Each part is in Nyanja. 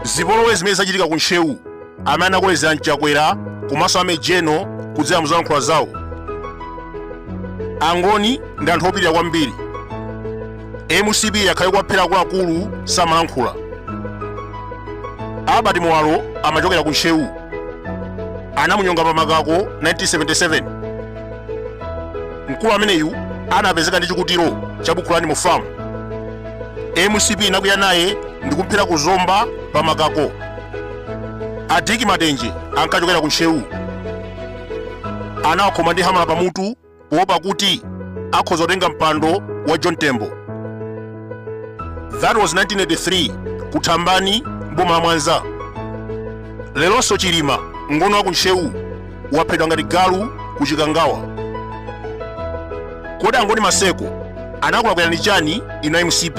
zipolowe zimene zachitika ku ntcheu amene anakolezera chakwera komanso amejeno kudzera muzolankhula zawo angoni ndi anthu opirira kwambiri mcp yakhala ikuwaphera akuluakulu samalankhula albert muwalo amachokera ku ntcheu anamunyonga pa makako 1977 mkulu ameneyu anapezeka ndi chikutiro cha buku lani mo famu mcp inakwiya naye ndi kumphera ku zomba pa makako a dick matenje ankachokera ku ntcheu anawakhoma ndi hamala pamutu poopa kuti akhoza kutenga mpando wa John Tembo. That was 1983 ku Thambani mboma la Mwanza. Lelonso Chilima ngoni wa ku Ntcheu waphedwa ngati galu ku Chikangawa. Kodi angoni Maseko anakulakwirani chani inu a MCP?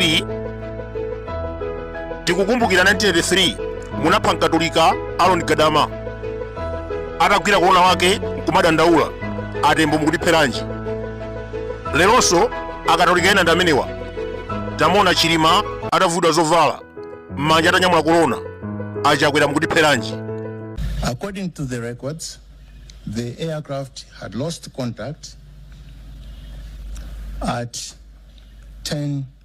Tikukumbukira 1983 munapha mkatolika Aaron Gadama. atagwira korona wake kumadandaula atembo mukutipheranji lelonso akatolika ena ndi amenewa tamuona chilima atavulidwa zovala m'manja atanyamula korona achakwera mukutipheranji According to the records, the aircraft had lost contact at 10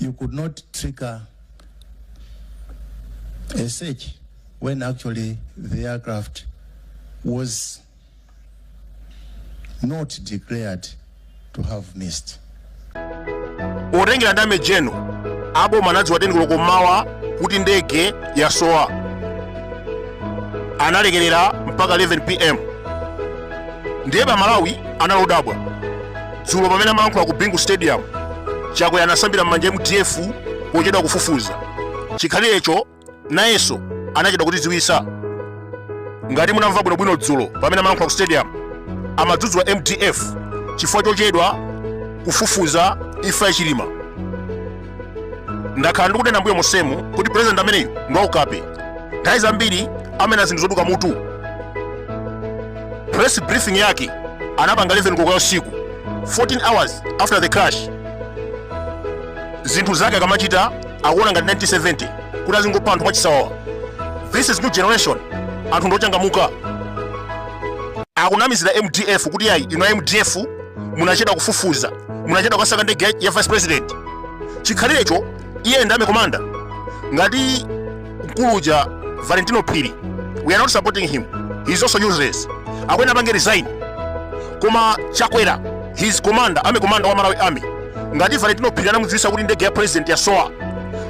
you could not trigger a search when actually the aircraft was not declared to have missed. potengera ndi amejeno aboma anadziwa teni koloko mmawa kuti ndege yasowa analekerera mpaka 11 pm ndiye amalawi anali odabwa dzulo pamene amalankhula ku bingu stadium chakwera anasambira m'manja mdf pochedwa kufufuza chikhalirecho nayenso anachedwa kutidziwisa ngati munamva bwinobwino dzulo pamene amalankhula ku stadium amadzudzula mdf chifukwa chochedwa kufufuza imfa ya chilima ndakhala ndikunena mbuyo monsemu kuti president ameneyu ndi waukape nthawi zambiri amanena zinthu zoduka mutu press briefing yake anapanga 11 koloko ya usiku 14 hours after the crash zinthu zake akamachita akuona ngati 1970 kuti azingopha anthu mwachisawawa this is new generation anthu ndochangamuka akunamizira mdf kuti yayi inu a mdf munachedwa kufufuza munachedwa kukasaka ndege ya- ya vice president chikhalirecho iye ndi ame commander ngati mkulu uja valentino phiri we are not supporting him he is also useless akuyenera apange resign koma chakwera is commander ame commander wa malawi army ngati valentino phiri anamudziwisa kuti ndege ya president yasowa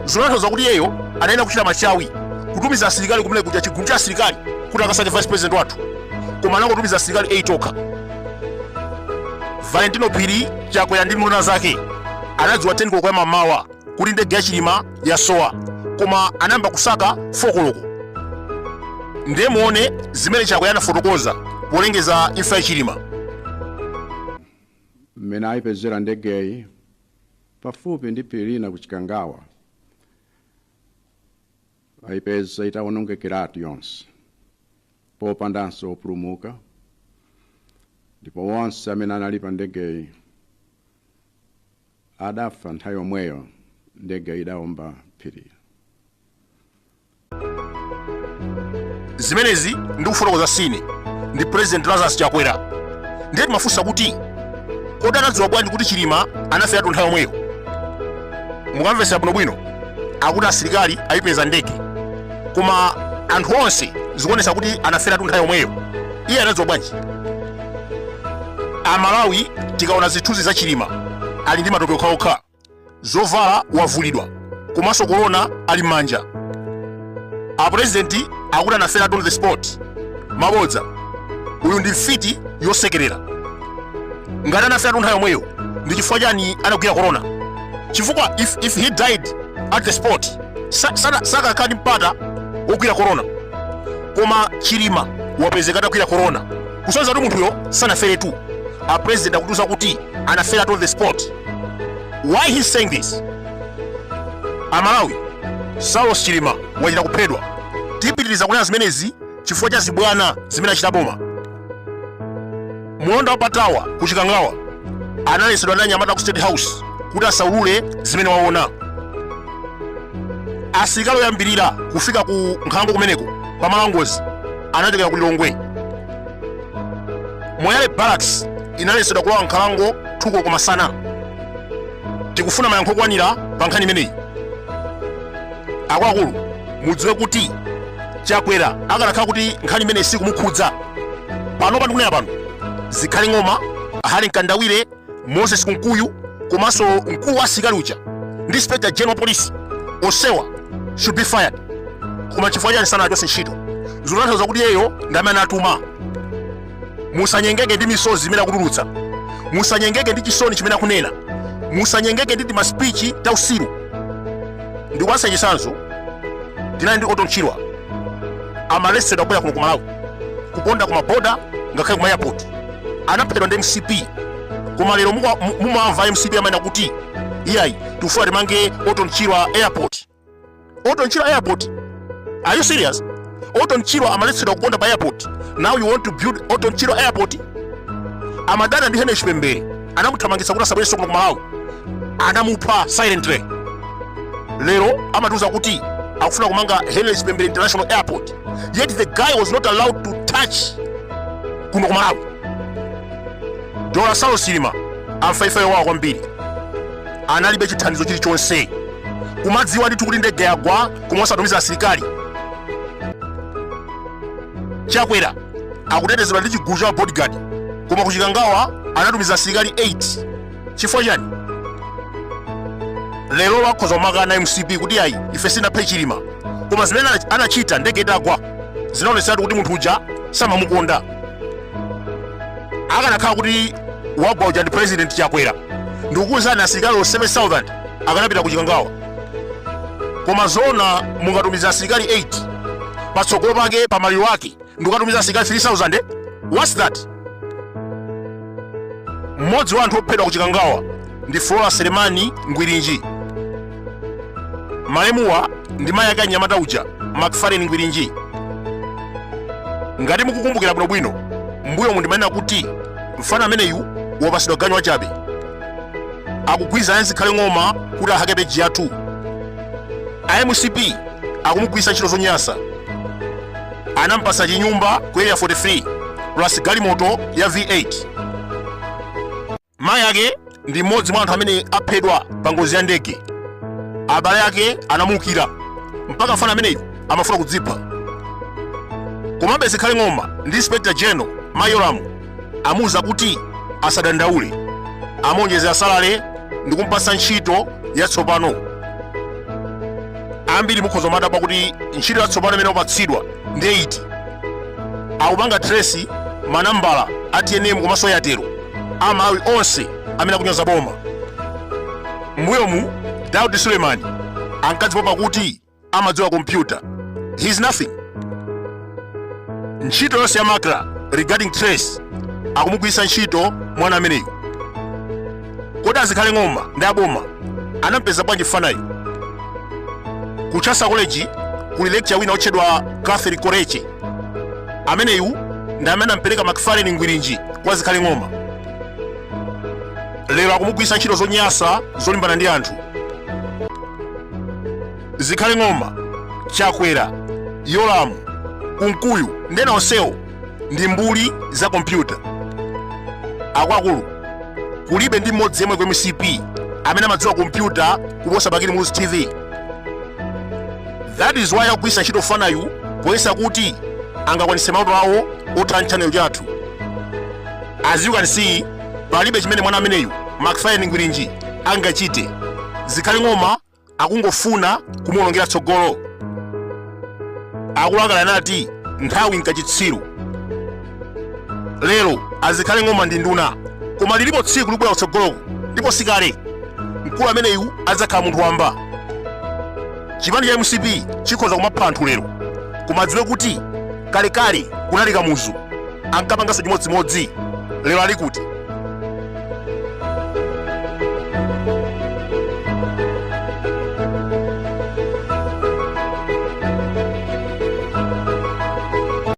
zikutanthauza kuti iyeyo anayenera kuchita machawi kutumiza asilikali kumene kuja chigulu cha asilikali kuti akasake vice president wathu koma anangotumiza asilikali 8 okha valentino phiri chakwera ndi nduna zake anadziwa 10 koloko ya m'mawa kuti ndege ya chilima yasowa koma anayamba kusaka 4 koloko ndiye muone zimene chakwera anafotokoza polengeza imfa ya chilima mmene ayipezera ndegeyi pafupi ndi phiri lina ku chikangawa aipeza itawonongekeratu yonse popandanso opulumuka ndipo onse amene anali pa ndegeyi adafa nthawi yomweyo ndegeyi idawomba phiri zimenezi ndikufotokoza sine ndi president lazarus chakwera ndiye timafunsa kuti kodi anadziwa bwanji kuti chilima anaferatu nthawi yomweyo mukamvetsera bwinobwino akuti asilikali ayipeza ndege koma anthu onse zikuonesa kuti anaferatu nthawi yomweyo iye anadziwa bwanji amalawi tikaona zithunzi za chilima ali ndi matope okhaokha zovala wavulidwa komanso korona ali m'manja apurezidenti akuti anaferatu on the spot mabodza uyu ndi mfiti yosekerera ngati anaferatu nthawi yomweyo ndi chifukwa chani anagwira korona chifukwa if, if he died at the spot sa- sana- sakanakhala ndi mpata wogwira korona koma chilima wapezeka atagwira korona kusonyeza kuti munthuyo sanaferetu apurezidenti akutiuza kuti anaferatu on the spot why is he saying this amalawi saulos chilima wachita kuphedwa tipitiriza kunena zimenezi chifukwa cha zibwana zimene achita boma mlonda wa pa tower ku chikangawa analesedwa ndi anyamata a ku state house kuti asaulule zimene waona asilikali oyambirira kufika ku nkhalango kumeneko pamalo a ngozi anachokera ku lilongwe moyale barracks inalesedwa kulowa m'nkhalango two koloko masana tikufuna mayankho okwanira pa nkhani imeneyi akuluakulu mudziwe kuti chakwera akanakhala kuti nkhani imeneyi sikumukhudza pano ndikunena pano zikhale ng'oma harry mkandawire moses kunkuyu komanso mkulu wa asilikali uja ndi inspector general wa police onsewa should be fired koma chifukwa chani sanawachose ntchito zikutanthauza kuti iyeyo ndi amene anatuma musanyengeke ndi misozi imene akutulutsa musanyengeke ndi chisoni chimene akunena musanyengeke ndi timaspichi tautsiru ndikupatsani chitsanzo tinali ndi orton chirwa amaletsedwa kubwera kuno ku malawi kuponda ku maboda ngakhale ku ma airport anaphedwa ndi mcp koma lero mumawamva a mcp amanena kuti iyayi tikufuna timange orton chirwa airport Orton Chirwa Airport. Are you serious? Orton Chirwa amaletsedwa kuponda pa airport. Now you want to build Orton Chirwa Airport? Amadana ndi Henry Chipembere anamuthamangitsa kuti asabwerenso kuno ku Malawi. Anamupha silently. Lero amatiuza kuti akufuna kumanga Henry Chipembere International Airport. Yet the guy was not allowed to touch kuno ku Malawi. Dr. Saulos Chilima anafa imfa yowawa kwambiri. analibe chithandizo chilichonse kumadziwa ndithu kuti ndege yagwa koma osatumiza asilikali chakwera akutetezedwa ndi chigulu cha bodyguard koma ku chikangawa anatumiza asilikali 8 chifukwa chani lero akhoza kumakana a mcp kuti ayi ife sitinaphe chilima koma zimene anachita ndege itagwa zinaonetseratu kuti munthu uja samamukonda akanakhala kuti wagwa uja ndi president chakwera ndikukuwuzani asilikali 7000 akanapita ku chikangawa koma zona mungatumiza asilikali 8 patsogolo pake pa maliro ake ndikukatumiza asilikali 3000 what's that mmodzi wa anthu ophedwa ku chikangawa ndi Flora Selemani Ngwirinji. Malemuwa ndi mayi ake a mnyamata uja McFarlane Ngwirinji. Ngati mukukumbukira bwinobwino, mbuyomu ndimanena kuti mfana ameneyu wapatsidwa ganyu wachabe. Akugwirizana ndi zikhale ng'oma kuti ahake peji yathu. A mcp akumugwiritsa ntchito zonyansa. Anampatsa chinyumba ku area 43 plus galimoto ya V8. Mayi ake ndi mmodzi mwa anthu amene aphedwa pa ngozi ya ndege. Abale ake anamuukira mpaka mfana ameneyu amafuna kudzipha. Komabe Zikhale Ng'oma ndi Inspector General Mayi Yolamu amuuza kuti asadandaule, amuonjezera salale ndi kumpatsa ntchito yatsopano. Ambiri mukhoza kumadabwa kuti ntchito yatsopano imene wapatsidwa ndi iti? Akupanga trace manambala a tnm komanso airtel amalawi onse amene akunyoza boma mbuyomu daudi suleiman ankadzipopa kuti amadziwa kompyuta he is nothing ntchito yonse ya macra regarding trace akumugwiritsa ntchito mwana ameneyu kodi azikhale ng'oma ndi aboma anampeza bwanji mfanayu ku chancellor college kuli lecturer wina otchedwa catherine koreche ameneyu ndi amene anampereka macfarlane ngwirinji kwa zikhale ng'oma lero akumugwiritsa ntchito zonyansa zolimbana ndi anthu zikhale ng'oma chakwera yolamu kunkuyu ndi ena onsewo ndi mbuli za kompyuta akuluakulu kulibe ndi mmodzi yemwe ku mcp amene amadziwa kompyuta kuposa bakili muluzi tv that is why akugwiritsa ntchito fanayu poyesa kuti angakwanitse maloto awo otha channel chathu as you can see palibe chimene mwana ameneyu macfarlane ngwirinji angachite zikhale ng'oma akungofuna kumuwonongera tsogolo akuluakulu anati nthawi nkachitsiru lero azikhale ng'oma ndi nduna koma lilipo tsiku libwera kutsogoloko ndipo sikale mkulu ameneyu adzakhala munthu wamba chipani cha mcp chikhoza kumapha anthu lero koma adziwe kuti kalekale kunali kamuzu ankapanganso chimodzimodzi lero ali kuti